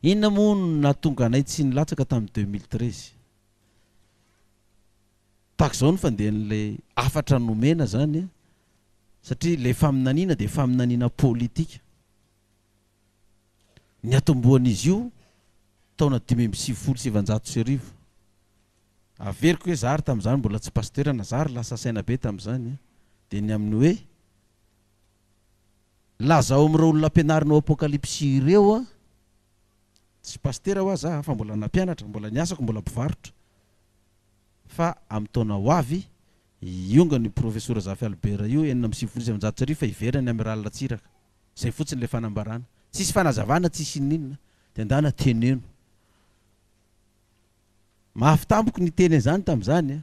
Inona moa no nahatonga anay tsy nilatsaka tamin'ny deux mille treize? Tahaka izao ny fandehan'ilay hafatra nomena izany, satria ilay faminaniana dia faminaniana politika. Niatombohan'izy io taona dimy amby sivifolo sy sivinjato sy arivo. Averiko hoe izaho ary tamin'izany mbola tsy pasitera na izaho ary lasa saina be tamin'izany dia ny amin'ny hoe, Lazao amin'ireo olona ampianarinao Apokalypsy ireo a! Tsy pasitera ho'a za fa mbola nampianatra, mbola ny asako mbola mpivarotra. Fa amin'ny taona ho avy, hiongan io Profesora Zafy Albert io enina amby sivifolo sy sivinjato sy arivo fa hiverina ny Amiral Ratsiraka. Zay fotsiny ilay fanambarana. Tsisy fanazavana, tsisy inininona. Dia ndana teneno. Mafy tampoky ny teny an'izany tamin'izany a!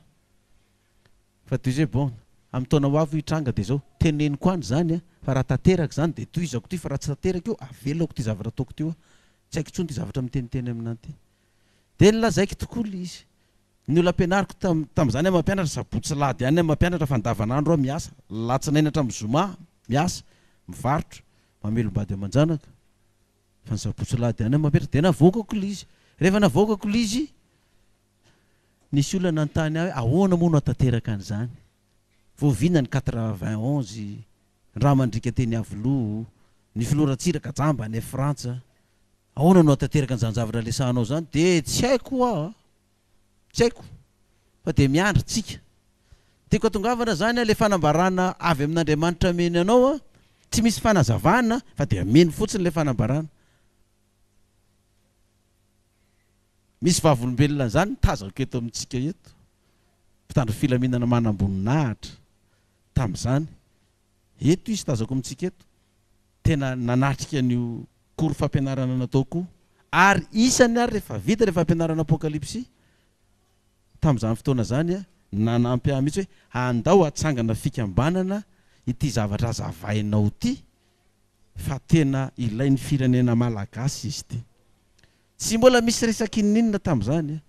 Fa toy izay bon, amin'ny taona ho avy hoy hitranga dia izao, teneniko any izany a, fa raha tanteraka izany dia tohizako ity fa raha tsy tanteraka io avelako ity zavatra ataoko ity hoa, tsy haiko intsony ity zavatra miteniteny amin'ahy ity. Dia nilazaiko tokoa ilay izy. Ny olona ampianariko tam, tamin'izany aho mampianatra, sabotsy sy alahady ihany aho mampianatra fa andavanandro aho miasa, alatsinainy hatramin'ny zoma miasa, mivarotra, mamelom-bady aman-janaka, fa ny sabotsy sy alahady ihany aho mampianatra, dia navoakako ilay izy. Rehefa navoakako ilay izy, Nisy olona nanontany ahy hoe ahoana moa no hahatanteraka an'izany? Vao vina ny quatre vingt onze, rà mandriaka teny Iavoloha, ny filoha Ratsiraka jamba any Frantsa, ahoana no hahatanteraka an'izany zavatra resahanao izany? Dia tsy haiko hoa a! Tsy haiko. Fa dia miandry tsika. Tiako hatongavana izany ilay fanambarana avy amin'Andriamanitra mino anao a! Tsy misy fanazavana fa dia mino fotsiny ilay fanambarana. Misy vavolombelona an'izany ny tazako eto amintsika eto, mpitandro filaminana manamboninahitra tamin'izany. Eto izy tazako amintsika eto, tena nanatrika an'io cours fampianarana nataoko io, ary isany ary rehefa vita ilay fampianarana Apokalypsy tamin'izany fotoana izany, nanampy ahy mihitsy hoe andao hatsangana fikambanana ity zavatra azavainao ity fa tena ilain'ny firenena malagasy izy ity. Tsy mbola misy resaka inoninona tamin'izany a!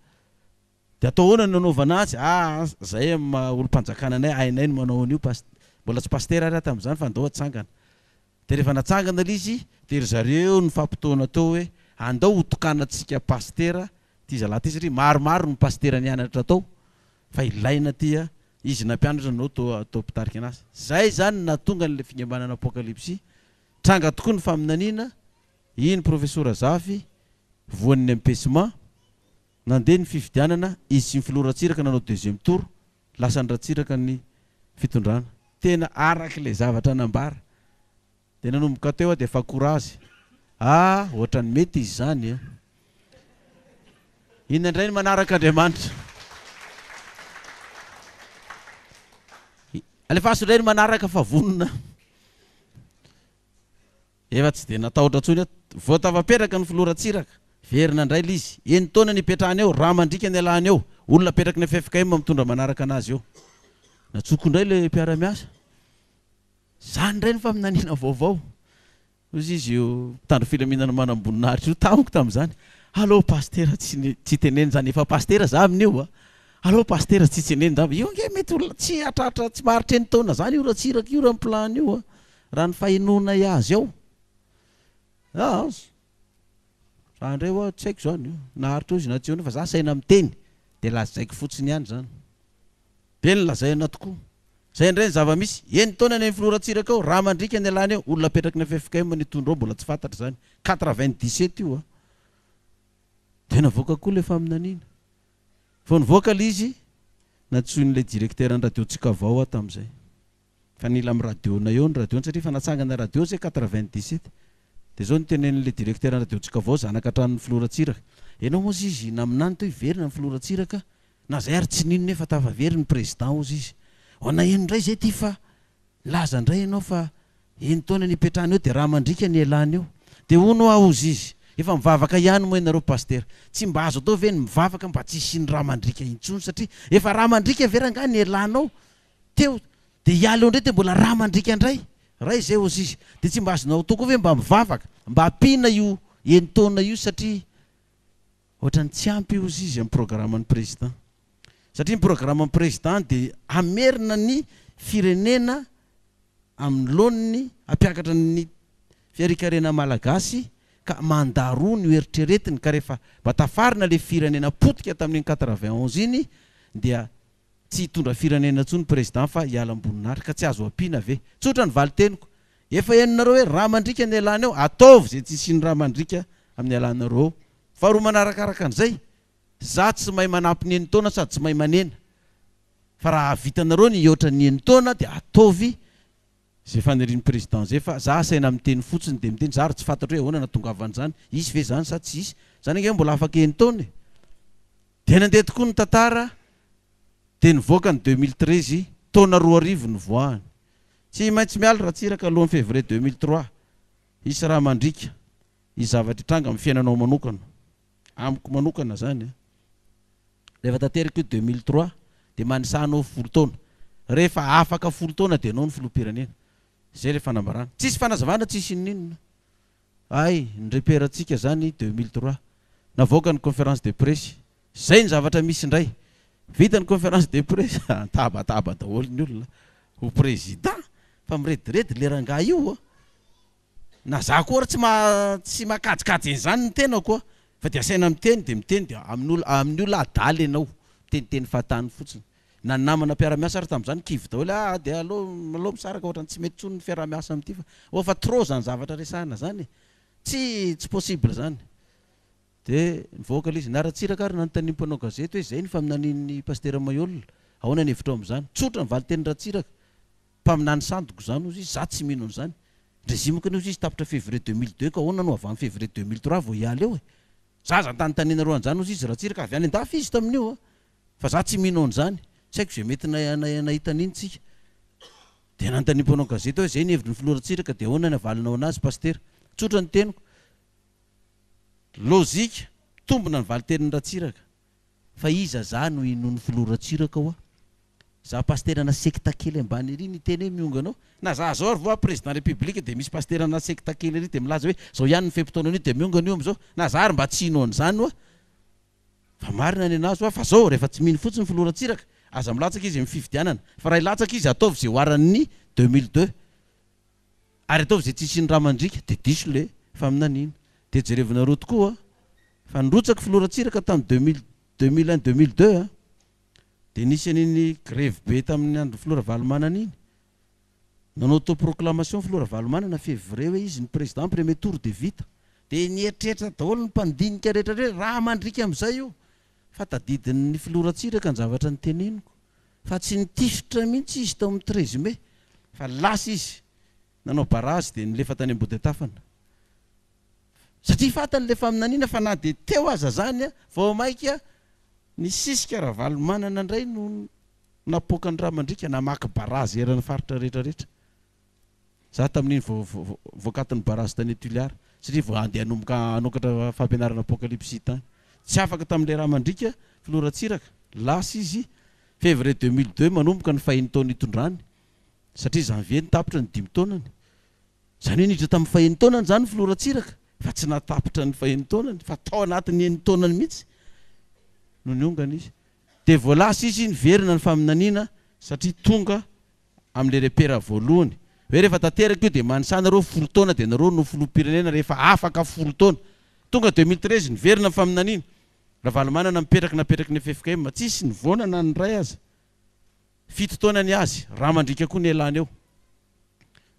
Dia atao ahoana no nanaovana azy? Ah ah, zahay amin'ny maha olom-panjakana anay, hainay ny manao an'io, past, mbola tsy pasitera ary aho tamin'izany fa andao hatsangana. Dia rehefa natsangana ilay izy, dia ry zareo nifampitaona teo hoe, andao hotokanantsika pasitera ity zalahy ity satria maromaro ny pasitera nianatra tao fa ilaina ity a! izy nampianatra nanao tao tao mpitarika an'asa. Izay izany no nahatonga an'ilay fikambanana Apokalypsy, tranga tokoa ny faminaniana, Iny profesora Zafy, voan'ny empesma, nandeha ny fifidianana, izy sy ny filoha Ratsiraka nanao deuxième tour, lasan'i Ratsiraka ny fitondrana. Tena araka ilay zavatra nambara. Dia nanomboka teo aho dia efa courage. Ah, ohatran'ny mety izy izany an! Inona indray ny manaraka Andriamanitra? Alefaso indray ny manaraka fa vonona. Efa tsy dia natahotra intsony aho. Vao tafapetraka ny filoha Ratsiraka, very nandray ilay izy. Enin-taona ny ipetrahany eo, rà mandriaka ny ialany eo. Olona apetraky ny ffkm mitondra manaraka anazy eo. Najoko indray ilay mpiara-miasa. Izany indray ny faminaniana vaovao. Hozy izy io mpitandro filaminana manamboninahitra io tamiko tamin'izany, Allo Pasitera, tsy teneno izany, efa Pasitera izaho amin'io a! Allo Pasitera, tsy tseneno izany. Io ange mety ho tsy hahatratra, tsy maharitra enin-taona izany io Ratsiraka io raha ny plan-ny io a! Raha ny fahenoanay azy ao aas. Za ndray oa tsy haiko zany naharitra ozy na tsy ozy fa za saina miteny de lazaiko fotsiny ihany zany. Be ny lazaina tokoa. Zay ndray ny zava misy. Eny taona ny an'i filoha Ratsiraka ao. Raha mandriaka ny alany ao. Olona apetraky ny ffkm ny hitondra ao mbola tsy fantatra zany. Quatre vingt dix sept io a. De navoaka koa le faminaniana. Vao nivoaka le izy nantsoin'ilay directeur ny radio tsikavao aho tamzay. Fa nila am radio na eo ny radio satria efa natsangana radio zay quatre vingt dix sept de zao nitenenin le directeur ny radio tsika vao zanaka hatrany ny filoha Ratsiraka enao moa zizy ina aminany to hiverina ny filoha Ratsiraka na zay ary tsy nino nefa tafa very ny president ozy izy ho ana eno ndray zay ty fa nilaza ndray enao fa eny taona ny ipetrahana eo de raha mandrika ny elany eo de ono hoa ozy izy efa mivavaka ihany moa enareo pasitera tsy mba azo atao ve ny mivavaka mba tsy hisiany raha mandrika intsony satria efa raha mandrika ve rangah ny elanao Teo dia i Aleo indray dia mbola ra mandriaka indray. Ra izay hozy izy. Dia tsy mba azonao atao koa ve mba mivavaka. Mba ampiana io enin-taona io satria ohatran'ny tsy ampy hozy izy amin'ny programan'ny Président. Satria ny programan'ny Président dia hamerina ny firenena amin'ny laoniny hampiakatra ny fiarikarena malagasy ka mandat roa no eritreretiny ka rehefa mba tafarina ilay firenena potika tamin'iny quatre-vingt onze iny dia Tsy hitondra firenena intsony président fa hiala ambonin'ary ka tsy azo ampiana ve? Tsotra ny valin-teniko. Efa henonareo hoe rà mandriaka ny ialana eo, ataovy izay tsy hisian'ny rà mandriaka amin'ny ialanareo eo. Faharoa manarakaraka an'izay, za tsy mahay manampy ny enin-taona sady tsy mahay manena. Fa raha hahavitanareo ny hihoatra ny enin-taona dia ataovy Zay fanirian'i président zay fa za asaina miteny fotsiny de miteny za ary tsy fantatro hoe ahoana natongavan'izany, hisy ve zany sa tsy hisy? Zany ange mbola afaka enitaona e! Dia nandeha tokoa ny tantara dia nivoaka ny deux mille treize, taona roa arivo nivoahany. Tsy maintsy miala Ratsiraka alohan'ny février deux mille trois, hisy raha mandriaka, hisy zavatra hitranga amin'ny fiainanao manokana. Amiko manokana zany an, rehefa tanteraka io deux mille trois de manisaha anao folo taona, rehefa afaka folo taona de anao no filoham-pirenena, zay le fanambarana, tsisy fanazavana tsisy inoninona, hay ny repère ntsika zany deux mille trois navoaka ny conférence de presse, zay ny zavatra misy indray, vita ny conférence de presse an, tabataba daholo ny olona ho président, fa mirediredy le rangahy io an. Na za koa ary tsy ma tsy makajikajy an'izany ny tenako a! Fa dia asaina miteny dia miteny dia amin'ny ol amin'ny olona adala ianao, miteniteny fahatany fotsiny. Na ny namana mpiara-miasa ary tamin'izany kivy daholo hoe ah dia aleo aleo misaraka ohatrany tsy mety intsony ny fiaraha-miasa amin'ity fa oh fa trop izany zavatra resahina izany e! Tsy tsy possible izany! Dia nivoaka ilay izy. Ny Ratsiraka ary nanontanian'ny mpanao gazety hoe izay ny faminanian'ny Pasitera Maihol, ahoana ny hevitrao amin'izany? Tsotra ny valin-tenin'i Ratsiraka, Mpaminany sandoka izany ozy izy, za tsy mino an'izany. Ndrezimiko anie ozy izy tapitra février deux mille deux ka ahoana no avy any février deux mille trois vao hiala eo e? Za aza antanintaniana roa an'izany ozy izy Ratsiraka, avy any an-dafy izy tamin'io a! Fa za tsy mino an'izany. Tsy haiko izay mety nahita an'iny tsika. Dia nanontaniam mpanao gazety aho hoe izay ny hevitry ny filoha Ratsiraka dia ahoana ny havalinao anazy Pasitera? Tsotra ny teniko. Lozika, mitombina ny valitenin'i Ratsiraka. Fa iza za no hinoan'ny filoha Ratsiraka oa? Za pasitera ana sekta kely ambany ery niteny hoe miongana ao na za zao ary voa président république dia misy pasitera ana sekta kely ery dia milaza hoe zao ihany ny fe-potoana anio dia miongana io amizao na za ary mba tsy hino an'izany oa fa marina ny anazy oa fa zao rehefa tsy mino fotsiny filoha Ratsiraka aza milatsaka izy amin'ny fifidianana fa raha hilatsaka izy ataovy ze oaran'ny deux mille deux ary ataovy izay tsy hisian'ny rà mandriaka dia diso ilay faminaniana. Dia jerevinareo tokoa fa nirotsaka filoha Ratsiraka tamin'ny deux mille, deux mille un, deux mille deux an! dia nisy an'iny grevy be tamin'ny andron'ny filoha Ravalomanana iny. Nanao autoproclamation ny filoha Ravalomanana février hoe izy ny président premier tour dia vita. Dia nieritreritra daholo ny mpandinika rehetra hoe rà mandriaka amin'izay io. fa tadidin'ny filoha Ratsiraka ny zavatra noteneniko fa tsy nitifitra mihitsy izy tao amin'ny treize mai fa lasa izy nanao barazy dia nilefa tany Ambodintafana satria fantany ilay faminaniana fa na dia teo aza izany vao maika nisisika Ravalomanana indray no napoaka ny ra mandriaka namaky barazy eran'ny faritra rehetra rehetra za tamin'iny vao voakatin'ny barazy tany Tuliar satria vao andeha hanomboka hanokatra fampianarana apokalipsy tany. Tsy afaka tamin'ilay raha mandriaka filoha Ratsiraka. Lasa izy février deux mille deux manomboka ny fahiny taona itondrany satria janvier no tapitra ny dimy taonany. Izany hoe niditra tamin'ny fahiny taonany izany filoha Ratsiraka fa tsy nahatapitra ny fahiny taonany fa tao anatin'ny enin-taonany mihitsy no niongana izy. Dia vao lasa izy niverina ny faminaniana satria tonga amin'ilay repera voalohany hoe rehefa tanteraka io dia manisa anareo folo taona dia nareo no filoham-pirenena rehefa afaka folo taona. Tonga deux mille treize niverina ny faminaniana. Ravalomanana mipetraka napetraky ny ffkm tsisy nivoana na ny iray aza. Fito taona ny azy. Rà mandriaka koa nialany eo.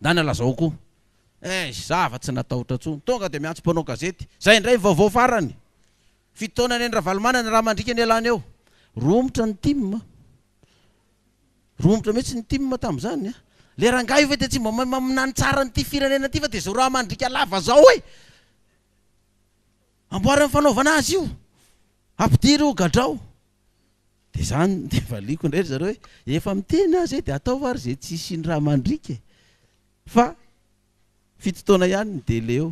Ndana lazao koa. Eish za afa tsy natahotra tsony. Tonga dia miantso mpanao gazety. Zay indray ny vaovao farany. Fito taona ny an'i ravalomanana, rà mandriaka nialany eo. Romotra ny tim. Romotra mihitsy ny tim tamin'izany a! Le rangahy io ve dia tsy mba mahay maminany tsara an'ity firenena ity fa dia izao raha mandriaka lava izao e! Amboary ny fanaovana azy io! Ampidiry ho gadrao! Dia izany no dia valiako indray ry zareo hoe, efa miteny aza e dia ataovy ary izay tsy hisian'ny raha mandriaka e! Fa fito taona ihany ny délai eo.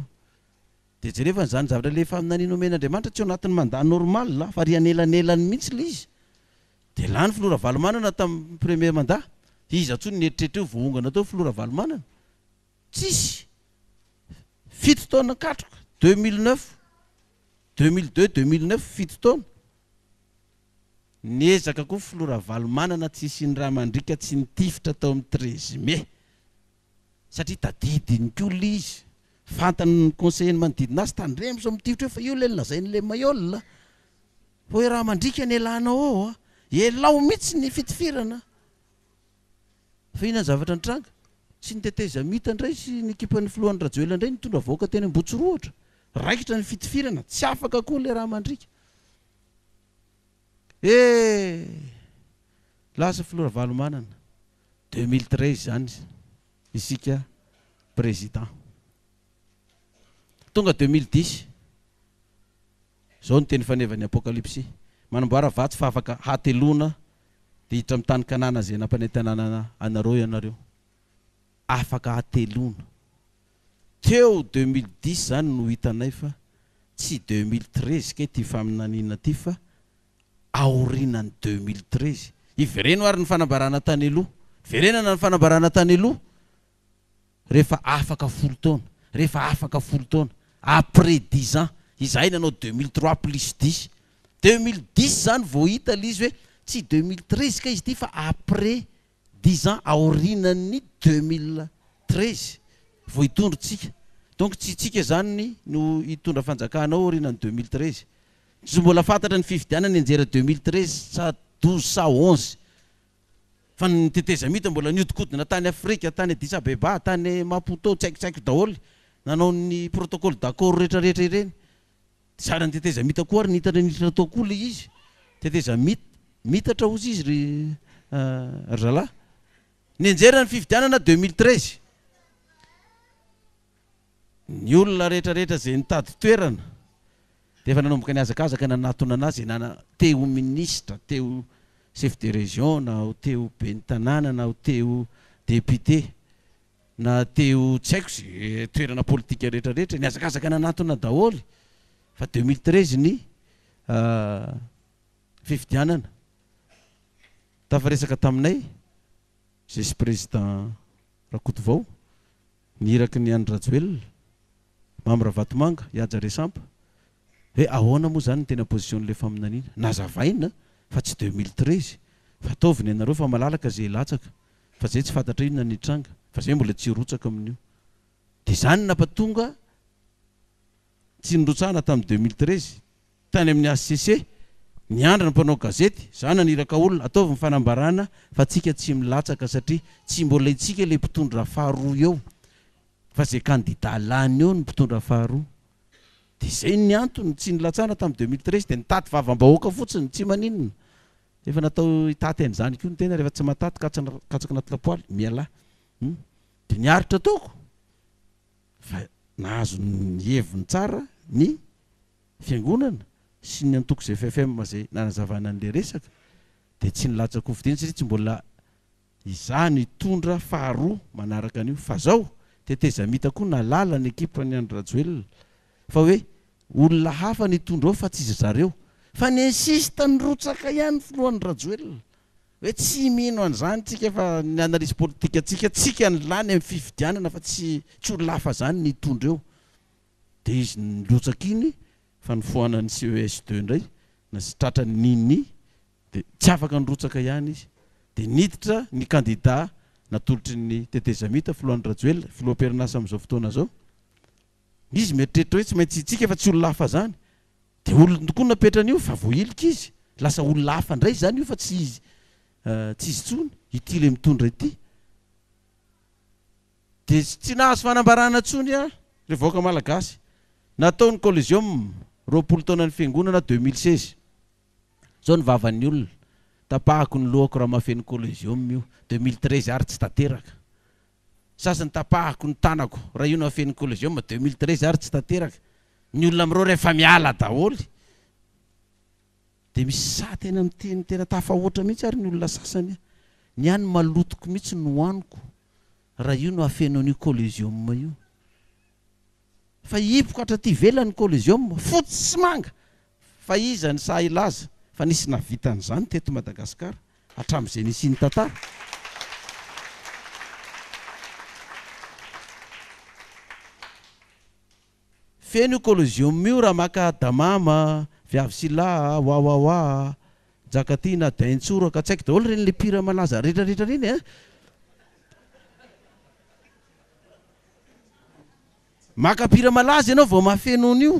Dia jereo fa izany zavatra ilay faminaniana omen'Andriamanitra tsy ao anatin'ny mandat normal fa ary anelanelany mihitsy ilay izy. Dia lany filoha Ravalomanana tamin'ny premier mandat. Iza intsony nieritreritra io voahongana teo filoha Ravalomanana? Tsisy. Fito taona katroka, deux mille neuf, deux mille deux, deux mille neuf, fito taona. Niezaka koa filoha Ravalomanana tsy hisian'ny ra mandriaka tsy nitifitra tao amin'ny treize mai. satria tadidiny koa ilay izy, fantany ny conseillers-ny manodidina azy, tandremo sao mitifitra eo fa io ilay lazain'i le Maillol a! fa hoe raha mandriaka ny elanao ao a! elao mihitsy ny fitifirana a! fa inona ny zavatra nitranga? tsy ny tetezamita indray sy ny ekipan'ny filohan'i Rajoelina indray nitondra vahoaka teny Ambohitsirohotra, raikitra ny fitifirana, tsy afaka koa ilay raha mandriaka, eh! lasa filoha Ravalomanana. Deux mille treize izany isika président. Tonga deux mille dix. Izao ny teny fanevan'ny apokalypsy. Manamboara vato fa afaka hateloana dia hiditra amin'ny tany Kanana izay nampanentanana anareo ianareo. Afaka hateloana. Teo deux mille dix izany no hitanay fa tsy deux mille treize kay ity faminaniana ity fa aorinan'ny deux mille treize. Hivereno ary ny fanambarana tany aloha. Verenana ny fanambarana tany aloha rehefa afaka folo taona. Rehefa afaka folo taona. Après dix ans. Izahay nanao deux mille trois plus dix. Deux mille dix izany vao hita ilay izy hoe tsy deux mille treize kay izy ity fa après Dix ans aorinan'ny deux mille treize vao hitondro tsika donc tsy tsika zany no hitondra fanjakana ao aorinan'ny deux mille treize tsy mbola fantatra ny fifidianana hianjera deux mille treize sa douze sa onze fa ny tetezamita mbola niodikodina tany afrika tany addis abeba tany maputo tsy haiko tsy haiko daholo nanao ny protocole d'accord retraretra ireny Tsara ny teteza mita koa ary nitatra nitatra tao koa le izy teteza mit mitatra ozy izy ry ry zalah nianjera ny fifidianana deux mille treize ny olona rehetra rehetra zay nitady toerana de efa nanomboka ny azakazaka nanatona anazy nana te ho ministra te ho chef de region na ho te ho ben'ny tanàna na ho te ho député Na teo tsy haiko ze toerana politika rehetra rehetra nihazakazaka nanatona daholo fa deux mille treize ny fifidianana tafaresaka taminay vice président Rakotovao ny iraky ny Andry Rajoelina Mamy Ravatomanga Ihaja Resampa hoe ahoana moa zany ny tena position le faminaniana nazavaina fa tsy deux mille treize fa ataovy ny anareo fa malalaka ze hilatsaka fa zay tsy fantatra inona ny tranga fa zay mbola tsy hirotsaka amin'io de zany napatonga tsy nirotsahana tamin'ny deux mille treize tany amin'ny HCC niandry ny mpanao gazety za naniraka olona ataovy ny fanambarana fa tsika tsy milatsaka satria tsy mbola itsika le mpitondra faharoa eo fa zay kandida lany eo ny mpitondra faharoa de zay ny antony tsy nilatsahana tamin'ny deux mille treize de nitady vavambahoaka fotsiny tsy maninona Efa natao hitaty an'izany koa ny tena rehefa tsy mahataty katsaka anaty lapoaly, mialà hum dia ny aritra ataoko fa nahazo ny heviny tsara ny fiangonana sy ny antoko ZFFM izay nanazavana an'ilay resaka dia tsy nilatsakofo dieny satria tsy mbola Izaho nitondra faharoa manaraka an'io fa zao tetezamita koa nalala ny ekipan'i Andry Rajoelina fa hoe olona hafa nitondra ao fa tsy zareo fa ny insiste nirotsaka ihany filohan'i Rajoelina hoe tsy mino an'izany tsika fa ny analyse politique tsika tsika ny lany amin'ny fifidianana fa tsy tsy olona hafa zany nitondra eo dia izy nirotsaka iny fa nifohana ny ces deux indray na sy tratra ny ny dia tsy afaka nirotsaka ihany izy dia niditra ny kandida natolotry ny tetezamita filohan'i Rajoelina, filoha am-perinasa amin'izao fotoana izao, izy mieritreritra hoe tsy maintsy hitsiaka fa tsy olona hafa izany dia olony tokoa no napetrany eo fa voahilika izy, lasa olona hafa indray izany io fa tsy izy tsy izy intsony, ity ilay mitondra ity. Dia tsy nahazo fanambarana intsony ary ilay vahoaka malagasy. Natao ny colliseum roapolo taonan'ny fiangonana deux mille seize. Zao ny vavan'ny olona. Tapahako ny lohako raha mahafehy ny Collegium io. Deux mille treize ary tsy tanteraka. Sasany tapahako ny tanako raha io no hafehy ny Collegium. Deux mille treize ary tsy tanteraka. Ny olona amin'ireo rehefa miala daholo dia misy sahy tena miteny tena tafahoatra mihitsy ary ny olona sasany. Ny ahy ny malotoko mihitsy no hohaniko raha io no hafeno an'io Collegium io. Fa hipoka hatraty ivelany ny Collegium, fotsy sy manga, Fa iza ny sahy hilaza fa nisy nahavita an'izany teto Madagasikara hatramin'izay nisian'ny tantara? Feno io coliseum io raha maka Adamama, Viavy sy Laha, Wawawa, Njakatiana, Daintsoraka, tsy haiko daholo ireny le mpihira malaza rehetra rehetra ireny eh! Maka mpihira malaza ianao vao mahafeno an'io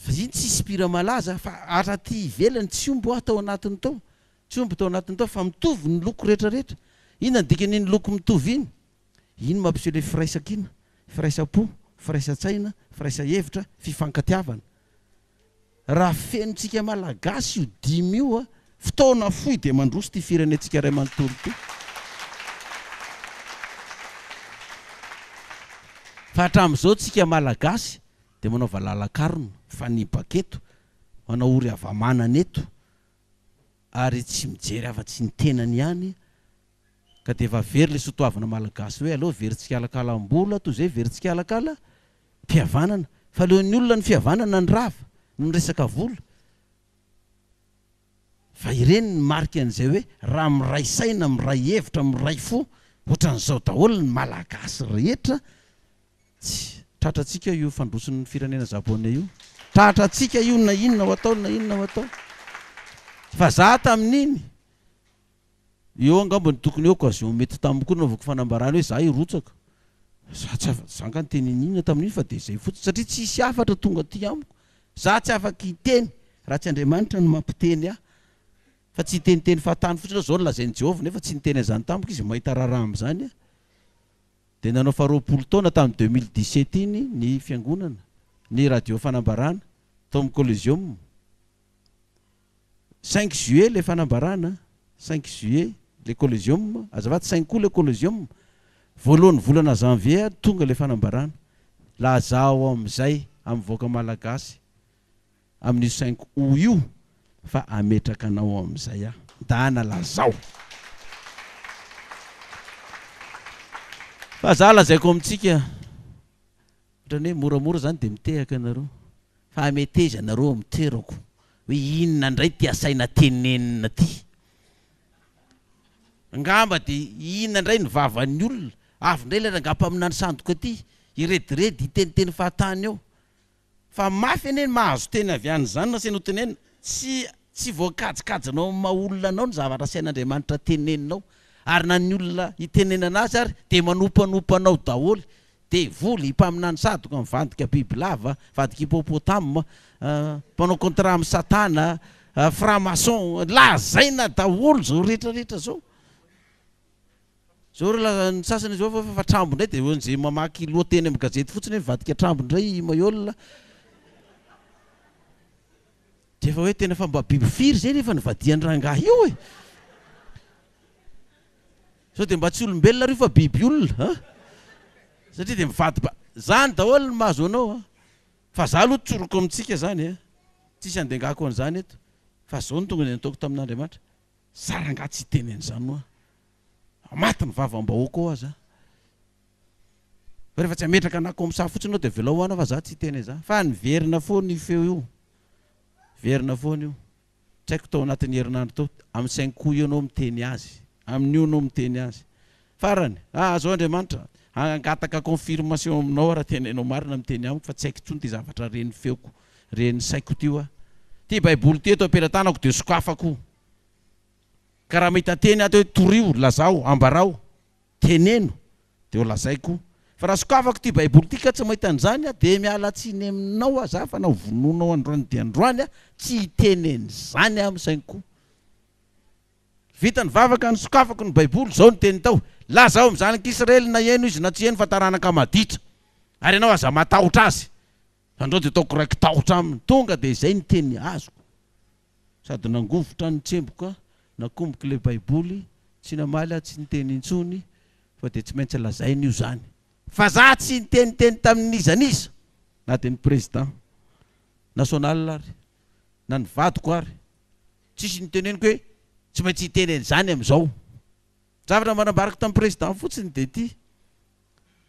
Vaziny tsisy mpihira malaza fa ary aty ivelany tsy omby hoa tao anatiny tao, tsy omby tao anatiny tao fa mitovy ny loko rehetra rehetra, inona ny dikan'iny loko mitovy iny? Iny mampiseho ilay firaisankina, firaisampo, firaisan-tsaina, firaisahevitra, fifankatiavana. Raha fenotsika Malagasy io dimy io a, fotoana fohy dia mandroso ity firenentsika iray manontolo ity. Fa hatramin'izao tsika Malagasy dia manaova lalan-karona, mifanipaka eto, manao ory hava-manana eto ary tsy mijery afa-tsy ny tenany ihany ka dia efa very ilay sotoavina Malagasy hoe aleo very tsikalakalam-bola toy izay very tsikalakala fihavanana fa leo ny olona ny fihavanana ny rava no resaka vola fa ireny ny marika an'izay hoe raha miray saina miray hevitra miray fo ohatran'izao daholo ny malagasy rehetra tsy tratra antsika io fandrosoan'ny firenena Japoney io tratra antsika io na inona ho atao na inona ho atao fa za tamin'iny Eo angamba no tokony eo occasion mety taminy koa nanaovako fanambarana hoe za hirotsaka. Za tsy afaka, za nga niteny an'inona tamin'iny fa dia zay fotsiny satria tsisy hafatra tonga aty amiko. Za tsy afaka hiteny raha tsy Andriamanitra no mampiteny ahy. Fa tsy hiteniteny fahatany fotsiny aho zao no lazain'i Jehovah nefa tsy niteny an'izany tamiko izy, mahita raharaha amin'izany aho. Dia nanao faharoapolo taona tamin'ny deux mille dix sept iny ny fiangonana, ny radio fanambarana, tao amin'ny Collegium. Cinq juillet le fanambarana, cinq juillet le colosium, azafady cinq aout le colosium, voalohan'ny volana janvier ary tonga le fanambarana, lazao amin'izay amin'ny vahoaka malagasy amin'io cinq aout io fa ametraka anao amin'izay aho, ndana lazao fa za lazaiko amintsika. Ohatrany hoe moramora izany dia mitehaka ianareo fa hameteza anareo amin'ny toerako hoe inona indray ity asaina tenenina ity. Angamba dia inona indray ny vavan'ny olona. Avy indray ilay rangahy mpaminany sandoka ity hirediredy hiteniteny fahatany eo. Fa mafy anie ny mahazo teny avy any izany raha saina ho tenenina. Tsy tsy voakajikajinao amin'ny maha olona anao ny zavatra asain'Andriamanitra teneninao. Ary na ny olona itenenana azy ary dia manompanompa anao daholo. Devoly, mpaminany sadoka mivadika bibilava, vadik' hippopotame, mpanao contrat amin'i satana, franc maçon, lazaina daholo zao rehetra rehetra zao. Zao raha ny sasany zao fa fa trambo ndray de eo ze mamaky lohateny amin'ny gazety fotsiny hoe mivadika trambo ndray i Maihol, de efa hoe tena fa mba biby firy zay nefa nivadian-drangahy io e! Sao dia mba tsy olombelona ry fa biby olona an! Satria dia mivady ba. Zany daholo ny mahazo anao an! Fa za aloha tsoriko amintsika zany an! Tsisy andengako an'izany eto! Fa zao no tonga dia nataoko tamin'Andriamanitra! Za rangah tsy hiteny an'izany hoa! Maty ny vavam-bahoaka hoa za! Fa rehefa tsy hametraka anako amin'ny saha fotsiny anao dia avelao hoana fa za tsy hiteny an'izany! Fa niverina foana io feo io! Niverina foana io! Tsy haiko tao anatin'ny herinandro tao, amin'ny saingy koa io no miteny azy, amin'io no miteny azy. Farany, ah, azao Andriamanitra, hangataka confirmation aminao aho raha tena ianao marina miteny amiko fa tsy haiko intsony ity zavatra ren'ny feoko, ren'ny saiko ity hoa. Ity baiboly ity eto am-pelatanako dia sokafako. Ka raha mahita teny ato hoe torio, lazao, ambarao, Teneno dia ho lazaiko fa raha sokafako ity baiboly ity ka tsy mahita an'izany aho dia miala tsiny aminao aho za fa na hovonoinao androany dia androany aho tsy hiteny an'izany aho saingy koa vita ny vavaka ny sokafako ny baiboly izao ny teniny tao lazao amin'ny zanak'israely na heno izy na tsy heno fa taranaka maditra ary ianao aza matahotra azy Andao dia ataoko raiki-tahotra aminy. Tonga dia izay ny teny azoko. Sady nangovitra ny tsemboka, nakomboko ilay Baiboly, tsy namaly aho tsy niteny intsony, fa dia tsy maintsy lazaina io izany. Vazaha tsy niteniteny tamin'iza n'iza, na dia ny Président national ary, na ny vadiko ary. Tsisy noteneniko hoe tsy maintsy hiteny an'izany amin'izao. Ny zavatra mba nambarako tamin'ny Président fotsiny dia ity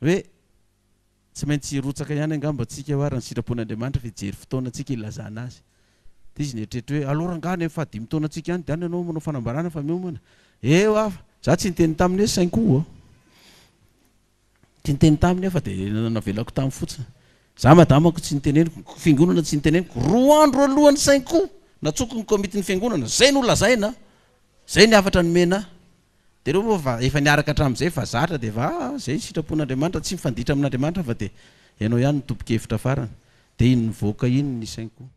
hoe. Tsy maintsy hirotsaka ihany angamba antsika eo ary ny sitrapon'Andriamanitra fa hijery fotoana antsika hilazana Azy. Dia izy nieritreritra hoe, Alou rangahy any amin'ny fahadimy taona antsika any dia any ianao manao fanambarana fa miomana? Eo aho fa. Izaho tsy niteny taminy hoe sainko aho. Tsy niteny taminy aho fa dia navelako tamy fotsiny. Izaho madamako tsy niteneniko, ny fiangonana tsy niteneniko. Roa andro alohan'ny sainko, natsoiko ny komitin'ny fiangonana. Izay no lazaina, izay ny hafatra nomena ahy. Dia ireo moa fa efa niaraka hatramin'izay fa zatra dia efa ah izay ny sitrapon'Andriamanitra, tsy mifanditra amin'Andriamanitra fa dia ianao ihany no tomponkevitra farany. Dia iny nivoaka iny ny sainiko.